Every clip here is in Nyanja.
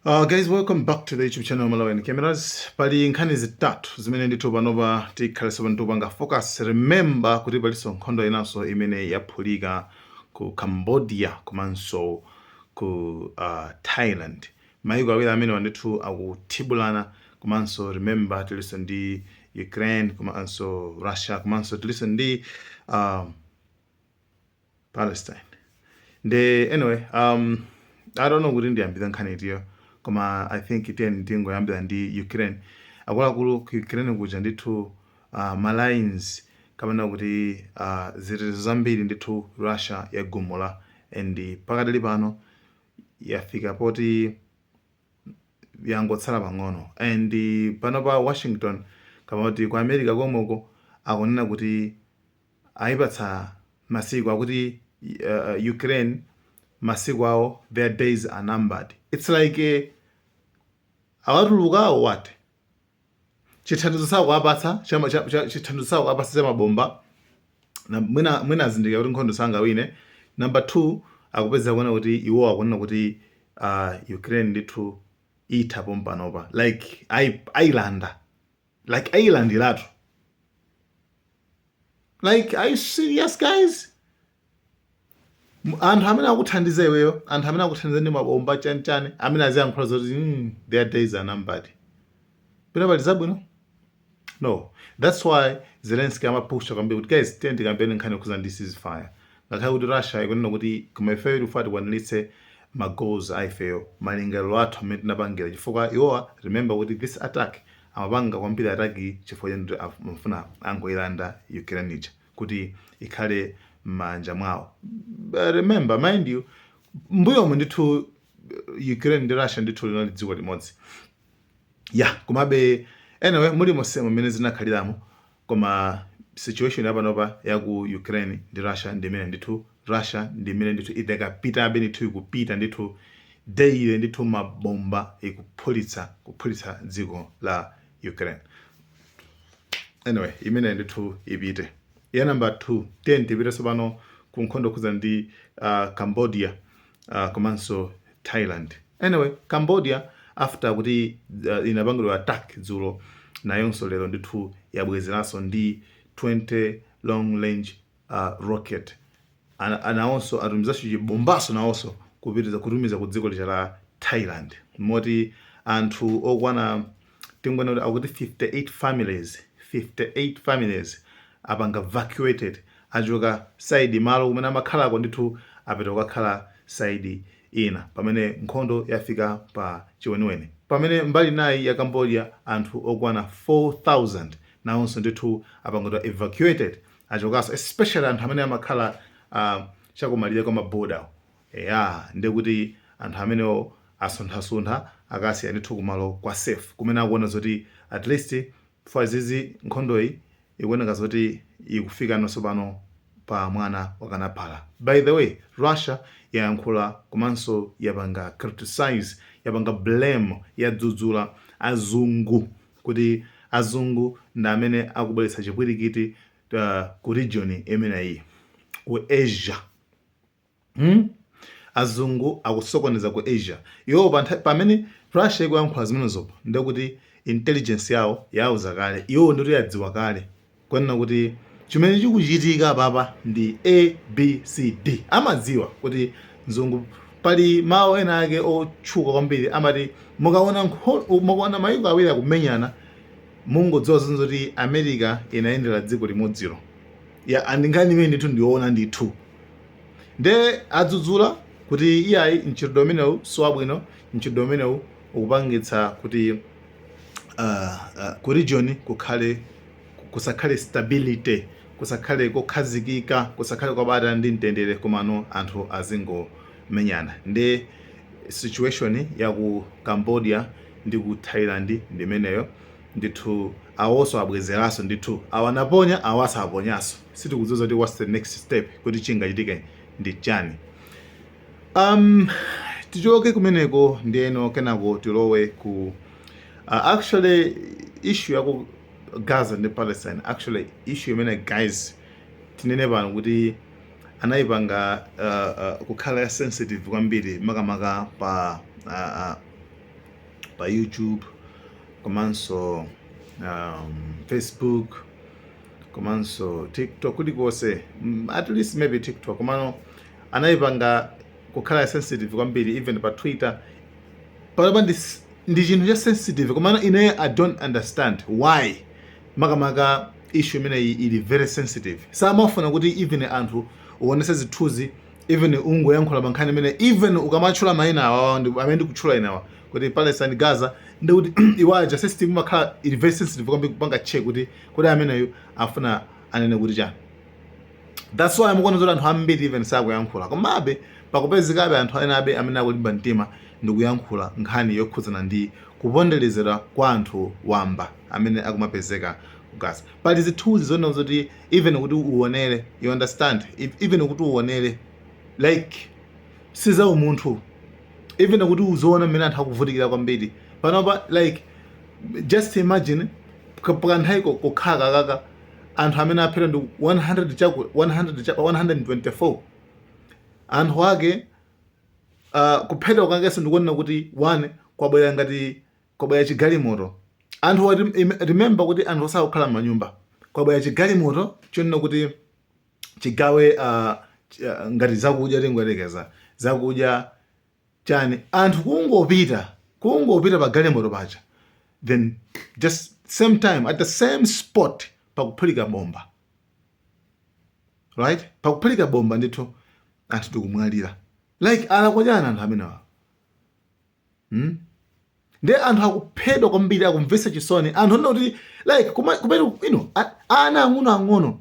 Uh, guys welcome back to the youtube channel malawian cameras pali nkhani zitatu zimene ndithu panopa tikhale tikupanga focus remember kuti palinso nkhondo inanso imene yaphulika ku cambodia komanso ku uh, thailand maiko awiri amenewa ndithu akuthibulana komanso remember tilinso ndi ukraine komanso russia komanso tilinso ndi uh, palestine nde anyway um, i don't know kuti ndiyambira nkhani itiyo koma i think tiyeni tingoyambira ndi ukraine akuluakulu ku ukraine kuja ndithu uh, malines kapena kuti uh, zitetezo zambiri ndithu russia yagumula and pakadali pano yafika poti yangotsala pang'ono and pano pa washington kapena kuti ku america komweko akunena kuti aipatsa masiku akuti Ukraine masiku awo their days are numbered its like awatulukira or what? Chithandizo sakuwapatsa chithandizo sakuwapatsa cha mabomba mwina azindikira kuti nkhondo sangawine. Number two akupeza kuona kuti iwo akunena kuti uh, Ukraine ndithu itha pompanopa like ailanda like ayilandiratu like are you serious guys anthu amene akuthandiza iweyo anthu amene akuthandiza ndi mabomba chanichani amene aziyankhula zoti mm, their days are numbered pena pali zabwino no that's why zelensky amapusha kwambiri kuti guys tiyeni tikambirane nkhani yokhuza ndi ceasefire Ngakhale kuti Russia ikunena kuti koma ifeyo tikufuna tikwanilitse ma goals a ifeyo malingaliro athu amene tinapangira chifukwa iwowa remember kuti this attack amapanga kwambiri attack yi chifukwa choti amafuna angoilanda Ukraine ija kuti ikhale mmanja mwawo remember mind you mbuyomu ndithu Ukraine ndi Russia ndithu linali dziko limodzi ya komabe anyway mulimonsemo mmene zinakhaliramo Koma situation ya panopa ya ku Ukraine ndi Russia ndi imene ndithu Russia ndi imene ndithu idakapitabe ndithu ikupita ndithu daily ndithu mabomba ikuphulitsa kuphulitsa dziko la Ukraine. Anyway, imene ndithu ipite. Ya number 2, tiyeni tipite tsopano ku nkhondo yokhudzana ndi uh, Cambodia. uh, komanso thailand anyway cambodia after kuti uh, inapangidwa attack dzulo nayonso lero ndithu yabwezeranso ndi 20 long range uh, rocket nawonso atumizanso chibombanso nawonso kutumiza ku dziko lija la thailand moti anthu okwana tingonena kuti akuti 58 families 58 families apanga evacuated achoka side malo kumene amakhalako ndithu apita kukakhala side ina pamene nkhondo yafika pa chiweniweni pamene mbali inayi ya cambodia anthu okwana 4000 nawonso ndithu apangidwa evacuated achokaso especially anthu amene amakhala uh, chakumalire kwa maboda Eya ndekuti anthu amenewo asunthasuntha akasiya ndithu kumalo kwa safe kumene akuona zoti at least for zizi nkhondoyi ikuoneka zoti ikufikano tsopano pa mwana wakanaphala. By the way Russia yayankhula komanso yapanga criticize yapanga blame yadzudzula azungu kuti azungu ndi amene akubweretsa chipwirikiti ku region imeneyi ku Asia. Hmm? Azungu akusokoneza ku Asia. Iwo pamene Russia ikuyankhula zimenezopo ndiye kuti intelligence yawo yawauza kale. Iwowo ndiye kuti adziwa kale konena kuti chimene chikuchitika apapa ndi A, B, C, D. Amadziwa kuti mzungu pali mawu ena ake otchuka kwambiri amati mukaona nkho, mukaona mayiko awiri akumenyana mungodziwa zoti America inayendera dziko limodzilo. Ya and nkhani imene ndithu ndiyoona ndithu. nde adzudzula kuti iyayi mchitidwe umenewu si wabwino mchitidwe umenewu ukupangitsa kuti uh, uh, ku region kukhale kusakhale stability kusakhale kokhazikika kusakhale kwabata ndi mtendere komano anthu azingomenyana nde situation ya ku cambodia ndi ku thailand ndimeneyo ndithu awonso abwezeranso ndithu awa naponya awa aponyanso sitikudziwa kuti what's the next step kuti chingachitike ndi chani um tichoke kumeneko ndiyeno kenako tilowe ku uh, actually issue yaku gaza ndi palestine actually issue imene guys tinene pano kuti anayipanga uh, uh, kukhala ya sensitive kwambiri makamaka pa uh, uh, pa youtube komanso um, facebook komanso tiktok kulikonse mm, at least maybe tiktok komano anayipanga kukhala sensitive kwambiri even pa twitter panopa ndi, s- ndi chinthu cha sensitive komano ineyo i don't understand why makamaka issue imeneyi ili very sensitive samafuna kuti even anthu uonese zithunzi even ungoyankhula mankhani imene even ukamatchula mayina awawa ndi- amene ndikutchula inewa kuti palestine gaza ndikuti iwaja system imakhala ili very sensitive kwambiri kupanga check kuti kodi ameneyu afuna anene kuti chani that's why mukuona zoti anthu ambiri even sakuyankhula komabe pakupezekabe anthu enabe amene akulimba mtima ndi kuyankhula nkhani yokhudzana ndi kuponderezedwa kwa anthu wamba amene akumapezeka ku gaza pali zithunzi zoona zoti even kuti uonere you understand If- even kuti uonere like si za umunthu even kuti uziona mmene anthu akuvutikira kwambiri panopa like just imagine pa kanthawi kochepa kakaka anthu amene aphedwa ndi 100 chaku 100 cha 124 anthu ake uh, kuphedwa kwakenso ndi konena kuti one kwabwera ngati kwabwera chigalimoto anthu wa rem- im- remember kuti anthuwa sakukhala m'manyumba kwabwera chigalimoto chonena kuti chigawe uh, ch- uh, ngati zakudya tingoyerekeza zakudya chani anthu kungopita kungopita pa galimoto paja then just same time at the same spot pakuphulika bomba right pakuphulika bomba ndithu anthu ndikumwalira like alakwa chani anthu amenewa hmm? ndiye anthu akuphedwa kwambiri akumvetsa chisoni anthu anena kuti like kumeneko ana ang'ono ang'ono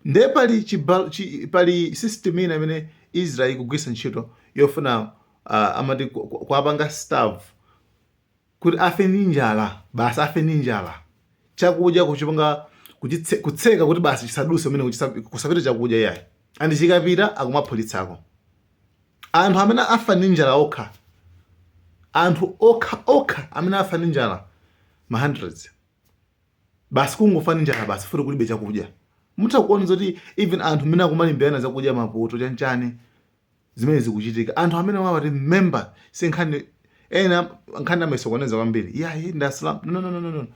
ndiye pali chi, pali system ina imene israel ikugwiritsa ntchito yofuna uh, amati kuwapanga starve kuti afe ndi njala basi afe ndi njala chakudya kuchipanga kutseka kuti basi chisaduse kumene kusapite chakudya yayi andi chikapita akumaphulitsako Anthu amene afa ndi njala okha, anthu okha okha amene afa ndi njala ma hundreds. Basi kungofa ndi njala basi chifukwa choti kulibe chakudya. Mutha kuona zoti even anthu mmene akumalimbirana zakudya mapoto chanchani zimene zikuchitika. Anthu amenewawa remember si nkhani ena nkhani amayisokoneza kwambiri. Yeah, ndi Asilamu. No, no, no, no, no.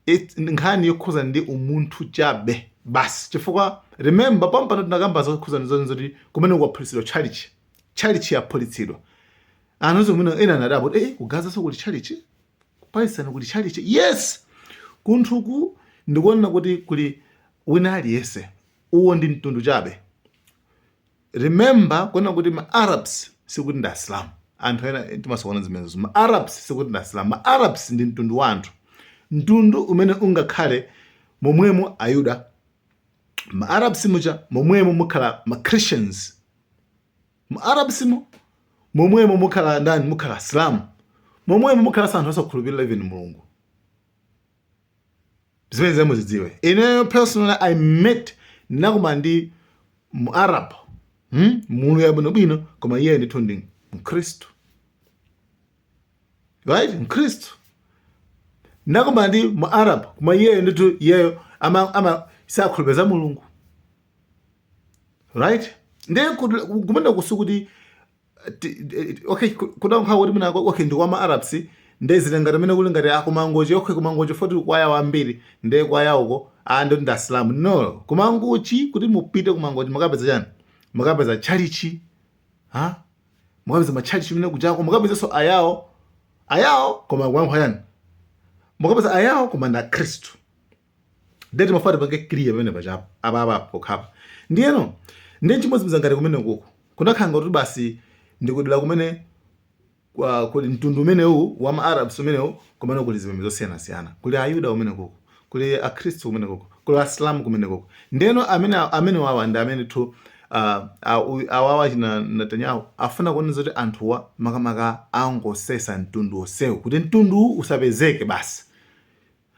it- ndi nkhani yokhuzana ndi umunthu chabe basi chifukwa remember pompano tinakambako zokhuzana zoni zoti kumene kwaphulitsidwa tchalichi tchalichi yaphulitsidwa anthu onse kumene ena anadabwa kuti eh ku gazanso kuli tchalichi ku palestine kuli tchalichi yes kumaloku ndi konena kuti kuli wina aliyense uwo ndi mtundu chabe Remember kunena kuti ma Arabs sikuti ndi Asilamu. Anthu ena timasokoneza zimenezo. Ma Arabs sikuti ndi Asilamu. Ma Arabs ndi mtundu wa anthu. Mtundu umene mungakhale momwemo Ayuda. Ma Arabs muja momwemo mukhala ma Christians. Ma Arabs mu momwemo mukhala ndani mukhala Asilamu. Momwemo mukhala anthu osakhulupirira even Mulungu. zimenezi muzidziwe ineyo personally i met nakumana ndi muarab hmm? munthu wabwinobwino koma iyeyo ndithu ndi mkhristu right mkhristu nakumana ndi muarab koma iyeyo ndithu iyeyo ama, ama sakhulupirira mulungu right ndiye kumene kusi kuti okay kuda nkhawa kuti mwina okay ndi kwama arabs nde zili ngati mene kuli ngati akumangochi okay kumangochi poti kwa ayawo ambiri nde kwa ayawoko anthu ndi asilamu no kumangochi kuti mupite kumangochi mukapeza chani mukapeza chalichi ha mukapeza machalichi komwe kujako mukapeza so ayawo ayawo koma kuyankha chani mukapeza ayawo koma ndi akristu ndiye timafuna tipange clear pamene pajapo apa apa pokhapa ndiyeno ndiye chimodzimodzi ngati kumene kuku kunakhala ngati basi ndikudera kumene kwa- kuli mtundu umenewu wa maarabs umenewu kumene kuli zipembedzo zosiyanasiyana kuli ayuda kumene kuku kuli akhristu kumene kuku kuli asilamu kumene kuku ndiyeno amene amene wawa ndi amene tu ah, ah, uyu- awawa china netanyahu afuna kuona zoti anthuwa makamaka angosesa mtundu onsewu kuti mtundu usapezeke basi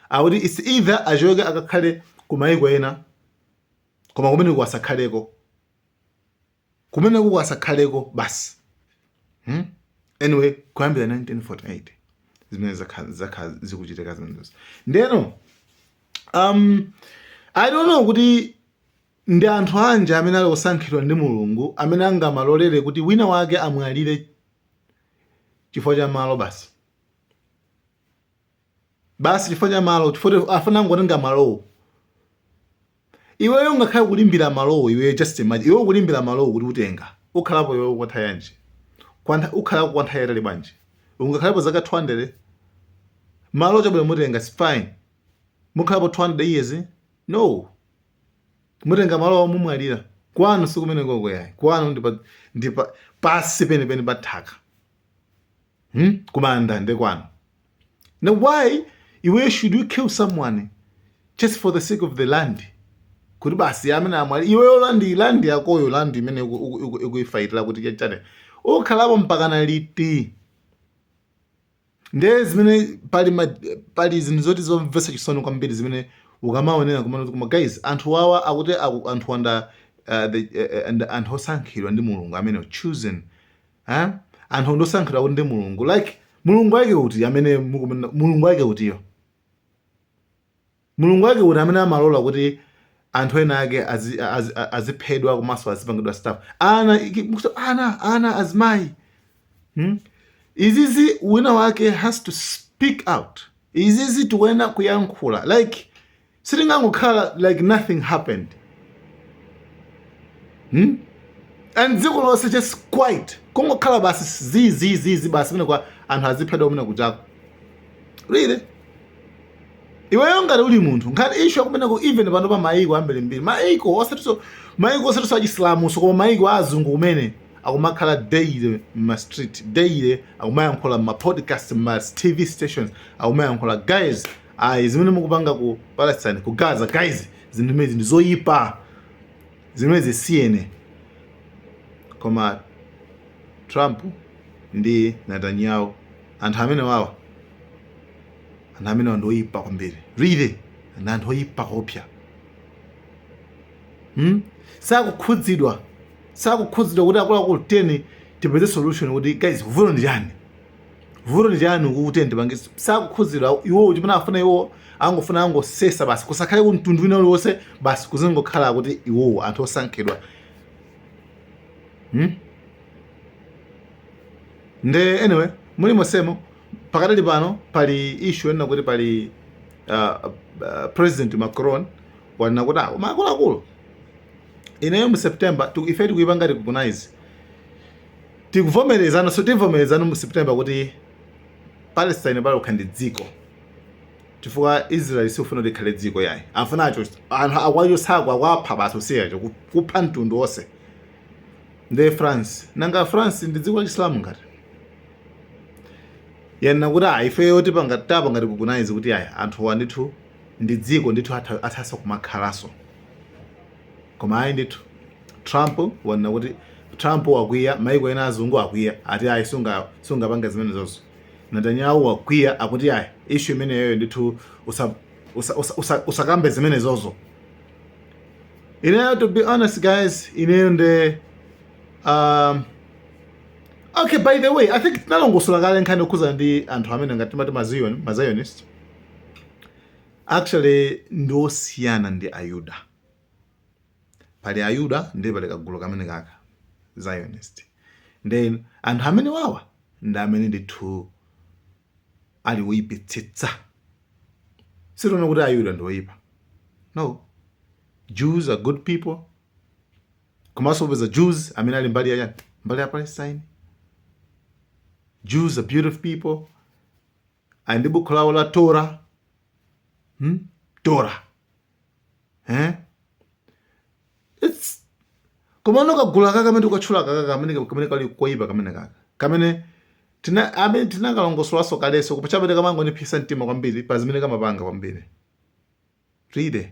akuti it's either achoke akakhale ku maiko ena koma kumeneko asakhaleko kumeneko asakhaleko basi hmm? anyway kuyambira 1948 zimene zakha- zakha zikuchitika zimenezo ndeno um, i don't know kuti ndi anthu anji amene ali osankhidwa ndi mulungu amene angamalolere kuti wina wake amwalire chifukwa cha malo basi basi chifukwa cha malo chifukwa afuna angotenga malowo iweyo ungakhale kulimbira malowo iweyo just imagine iweyo kulimbira malowo kuti utenga ukhalapo iweyo kwanthawi yanji kwantha ukhalapo kwanthawi yatali bwanji ungakhalapo zaka 200 malo chabwino mutenga it's fine mukhalapo 200 years no mutenga malowo mumwalira kwanu sikumene koko yayi kwanu ndipa ndipa pansi penipeni pa nthaka hmm? kumanda nde kwanu now why iweyo should you kill someone just for the sake of the land kuti basi amene amwalire iweyo land land yakoyo land imene ukuifaitira kuti chachani ukhalapo mpakana liti nde zimene pali ma, pali zinthu zoti zomvetsa chisoni kwambiri zimene ukamaonera kumana koma guys anthu wawa akuti anthu wa nda uh, the, uh, uh, and anthu osankhidwa ndi mulungu amene chosen eh? anthu ndi osankhidwa kuti ndi mulungu like mulungu wake uti amene mukumanena mulungu wake utiyo mulungu wake uti amene amalola kuti anthu ena ake azi- azi- a- aziphedwa komanso azipangidwa stuff ana iki- mukuti ana ana azimayi hmm? izizi wina wake has to speak out izizi tikuyenera kuyankhula like sitingangokhala like nothing happened hmm? and dziko lonse just quiet kungokhala basi zizizizi basi mene kwa anthu aziphedwa kumene kujako really iweyo ngati uli munthu ngati issue yakumeneko even pano pa maiko ambirimbiri maiko osatiso maiko osatiso achisilamuso koma maiko a azungu kumene akumakhala daily mma street daily akumayankhula mma podcast mma tv stations akumayankhula guys guys zimene mukupanga ku Palestine ku Gaza guys zinthu zimezi ndi zoyipa zimenezi siyani koma Trump ndi Netanyahu anthu amene wawa anthu amenewa ndi oyipa kwambiri really ndi anthu oyipa koopsa hmm? sakukhudzidwa sakukhudzidwa kuti akuluakulu tiyeni tipeze solution kuti guys vuto ndi chani vuto ndi chani mukuti ndipange sakukhuzidwa iwo chimene afuna iwo angofuna angosesa basi kusakhale kumtundu wina uliwonse basi kuzingokhala kuti iwowo anthu osankhidwa hmm? nde anyway mulimonsemo pakadali pano pali issue yonena kuti pali uh, uh, president macron wanena kuti awo ah, maakuluakulu ineyo mu september ife tikuipanga recognize Tikuvomerezanso, tivomerezano mu September kuti Palestine payokha ndi dziko. Chifukwa Israel sikufuna kuti ikhale dziko yayi. Afuna acho, anthu akwachosa akuwapha basi usiyacho, kupha mtundu onse. Ndi France, nanga France ndi dziko la Chisilamu ngati? Yanena kuti ayi, ifeyo tipanga tapanga recognize kuti ayi, anthuwa ndithu ndi dziko ndithu atha, athaso kumakhalanso. Koma ayi ndithu. Trump wanena kuti Trump wakwiya, maiko ena azungu akwiya. Ati ayi sunga sungapange zimenezozo. Netanyahu wakwiya akuti ayi issue imeneyoyo ndithu usa usa usa usa usakambe zimenezozo. Ineyo to be honest guys, ineyo nde um, Okay, by the way, I think tinalongosola kale nkhani yokhuza ndi anthu amene ngati timati ma Zion, ma Zionist. Actually ndi osiyana ndi Ayuda. pali ayuda ndiye pali kagulu kamene kaka zionist then anthu amene wawa ndi amene ndithu ali woyipitsitsa sitinena kuti ayuda ndi oyipa no jews are good people komanso upeza jews amene ali mbali ya mbali ya palestine jews are beautiful people ali ndi bukhu lawo la tora hmm? tora eh? It's... koma kagulu kaka kamene ukatchula kaka kamene kamene kali koyipa kamene kaka kamene tina amene tinakalongosolanso kaleso kupachabe kamangoipitsa mtima kwambiri pa zimene kamapanga kwambiri read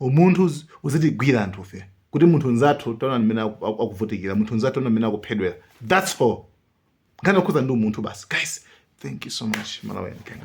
Umunthu uzitigwira anthufe kuti munthu nzathu taonani mmene aku- aku- akuvutikira, munthu nzathu taonani mmene akuphedwera. That's all. Nkhani yokhuza ndi umunthu basi. Guys, thank you so much. Malawi and Kenya.